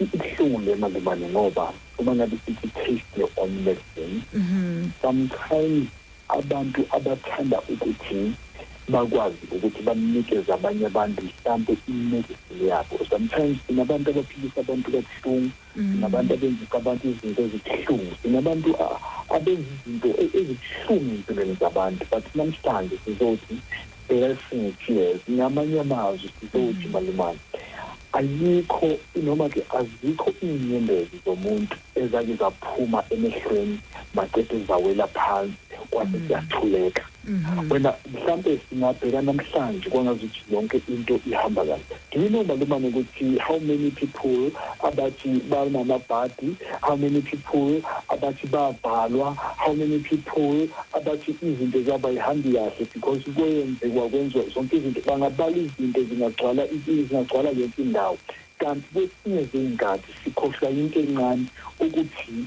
ibuhlungu le malibane ngoba uma ngabe sithi taste your own medicine mm-hmm. sometimes abantu abathanda ukuthi bakwazi ukuthi banikeze abanye abantu mhlampe imedicine yabo sometimes sinabantu abaphilisa abantu kabuhlungu mm-hmm. sinabantu abenzisa abantu izinto ezibuhlungu sinabantu abenza izinto e-, ezibuhlungu empilweni zabantu but namhlanje sizothi Yes ngithi yes ngamanye amazwi sizothi mm. malumane ayikho noma ke azikho inyembezi zomuntu ezake zaphuma emehlweni maqede zawela phansi kwathi mm. siyathuleka mm-hmm. wena mhlampe singabheka namhlanje kwangazuthi yonke into ihamba kahle Do you know malumane ukuthi how many people abathi banamabhadi how many people abathi babhalwa how many people abathi izinto zabo ayihambi kahle because kwenzekwa kwenziwa zonke izinto bangabala izinto zingagcwala zingagcwala yonke indawo kanti kwesinye zey'nkathi sikhohlwa yinto encane ukuthi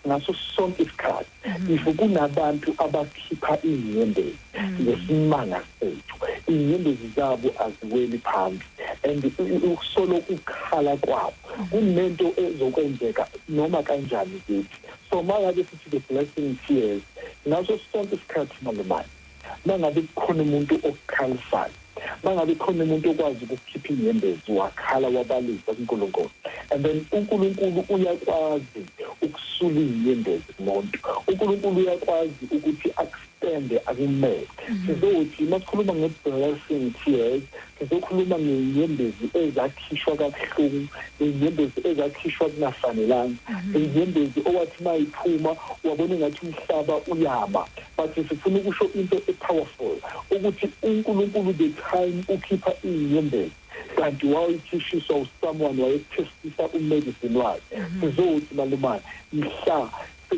ngaso sonke isikhathi mhm. if kunabantu abakhipha inyembezi mhm. ngesimanga sethu inyembezi zabo aziweli phambi and ukusolo ukukhala kwabo mhm. kunento ezokwenzeka noma kanjani kithi so mangabe sithi the blessing tears ngaso sonke isikhathi malumane mangabe kukhona umuntu okukhalisayo mangabe khona umuntu okwazi ukukhipha inyembezi wakhala wabalisa kuNkulunkulu and then uNkulunkulu uyakwazi ukusula inyembezi kumuntu uNkulunkulu uyakwazi ukuthi akustende akumele mm-hmm. sizothi masikhuluma nge-blessing tears Sizokhuluma ngezinyembezi ezakhishwa kabuhlungu, izinyembezi ezakhishwa kungafanelanga, izinyembezi mhm. owathi uma iphuma wabona ngathi umhlaba uyama. But sifuna ukusho into e-powerful ukuthi uNkulunkulu the time ukhipha izinyembezi kanti wawuyithishiswa usomeone wayekuthestisa umedicine wakhe mhm. sizothi malumane mhla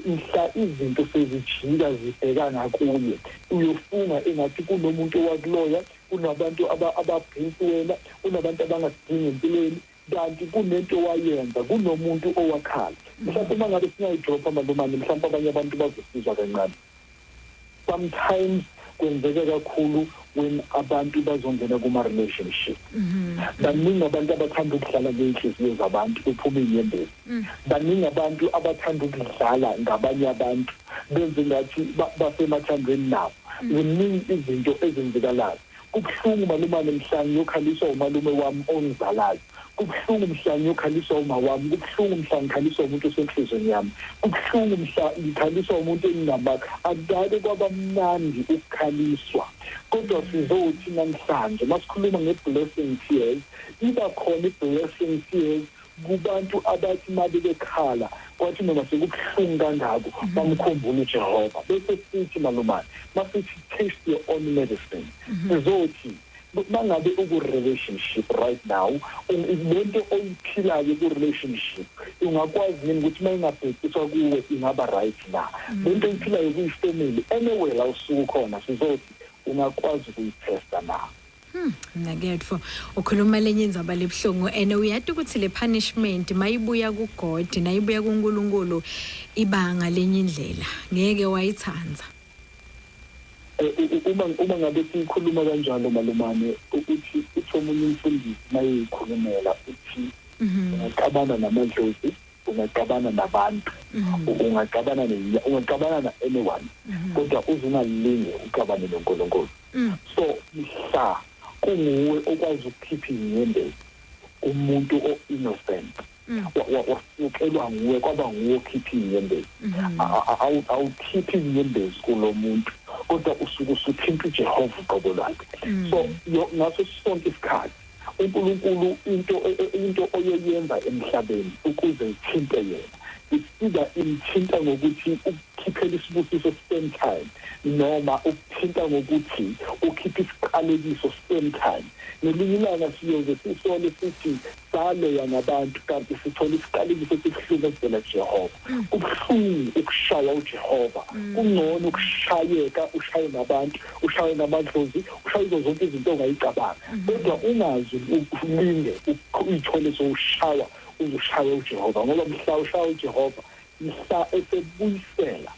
mhla izinto sezijika zibheka ngakuye uyofunga engathi kunomuntu owakuloya kunabantu aba ababhinsi wena kunabantu abangasidingi empilweni kanti kunento owayenza kunomuntu owakhala mhlawumbe uma ngabe singayidropha malumane mhlawumbe abanye abantu bazosizwa kancane sometimes kwenzeka kakhulu when abantu bazongena kuma-relationship mhm. baningi abantu abathanda ukudlala ngey'nhliziyo zabantu kuphuma iy'nyembezi mm. baningi abantu abathanda ukudlala ngabanye abantu benze ngathi basemathandweni nabo Kuningi izinto ezenzekalayo. Kubuhlungu malumane mhla ngiyokhaliswa umalume wami ongizalayo. Kubuhlungu mhla ngiyokhaliswa umawami. Kubuhlungu mhla ngikhaliswa umuntu osenhlizweni yami. Kubuhlungu mhla ngikhaliswa umuntu engingamaka. Akudake kwaba mnandi ukukhaliswa. Kodwa sizothi namhlanje masikhuluma ngeblessing tears, iba khona iblessing tears kubantu abathi uma bebekhala kwathi noma sekubuhlungu kangako mhm. bamkhumbule ujehova bese sithi malumane masithi taste your own medicine mhm. sizothi mangabe uku-relationship right now lento oyiphilayo ku-relationship ungakwazi yini ukuthi uma ingabhekiswa kuwe ingaba right na mhm. lento oyiphilayo kuyifamily anyway la usuku khona sizothi ungakwazi ukuyithesta na Hmm, naketfo ukhuluma lenye indzaba lebuhlungu and uyati ukuthi le punishment mayibuya kugod nayibuya kunkulunkulu iba ngalenye indlela ngeke wayitsandza eh, uma uma ngabe siyikhuluma kanjalo malumane ukuthi uthi omunye umfundisi mayeyikhulumela uthi mhm. ngixabana namadlozi ungaxabana nabantu mm-hmm. ungaxabana nezinya ungaxabana na anyone mm-hmm. kodwa uze ungalinge uxabane noNkulunkulu mm. so mhla kunguwe okwazi ukukhipha inyembezi umuntu o-innocent mm. wasukelwa nguwe kwaba nguwe okhipha inyembezi mm-hmm. awukhiphi inyembezi kulo muntu kodwa usuke usuthinta ujehova uqobo lwakhe mm. so ngaso sonke isikhathi uNkulunkulu into e, e, into oyoyenza emhlabeni ukuze ithinte yena isida imthinta ngokuthi ukukhiphela isibusiso same time noma ukuthinta ngokuthi ukhiphe isiqalekiso same time ngelinye ilanga siyoze sisole sithi saloya ngabantu kanti sithole isiqalekiso esibuhlungu esivela Jehova kubuhlungu ukushawa uJehova mm. kungcono ukushayeka ushaye nabantu ushaye namadlozi ushaye izo zonke izinto ongayicabanga mm-hmm. kodwa ungazi ulinde uyithole sowushawa uzushaye uJehova ngoba mhla ushaya uJehova mhla esebuyisela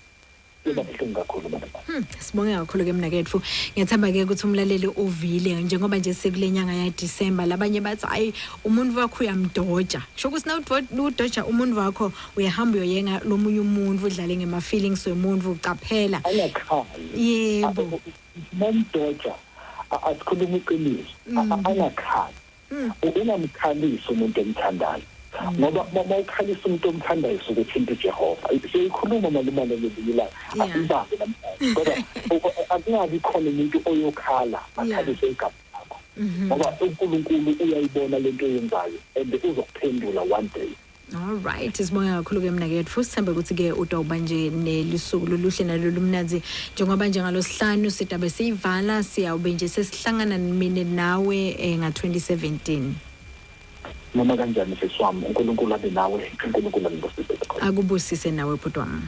kuba buhlungu kakhulu baba hmm, sibonge kakhulu ke mnakethu ngiyathemba ke ukuthi umlaleli uvile njengoba nje sekulenyanga ya December labanye bathi hayi umuntu wakho uyamdoja kusho ukuthi na udoja umuntu wakho uyahamba uyoyenga lomunye umuntu udlale ngema feelings wemuntu ucaphela yebo nomdoja asikhuluma iqiniso mm. anakhaya ungamkhalisi umuntu omthandayo ngoba uma ukhalisa umuntu omthandayo usuke uthinta uJehova siyikhuluma malumane ngelinye ilanga asibambe namhlanje kodwa akungabi khona umuntu oyokhala akhalise igama lakho ngoba uNkulunkulu uyayibona lento oyenzayo and uzokuphendula one day Alright, sibonga kakhulu ke mina ke futhi sithembe ukuthi ke udoba nje nelisuku loluhle nalolumnanzi njengoba nje ngalosihlanu sidabe siyivala siyawube nje sesihlangana mina nawe eh, nga 2017. Noma kanjani seswami uNkulunkulu abe nawe, uNkulunkulu anibusise. Akubusise nawe bhuti wami.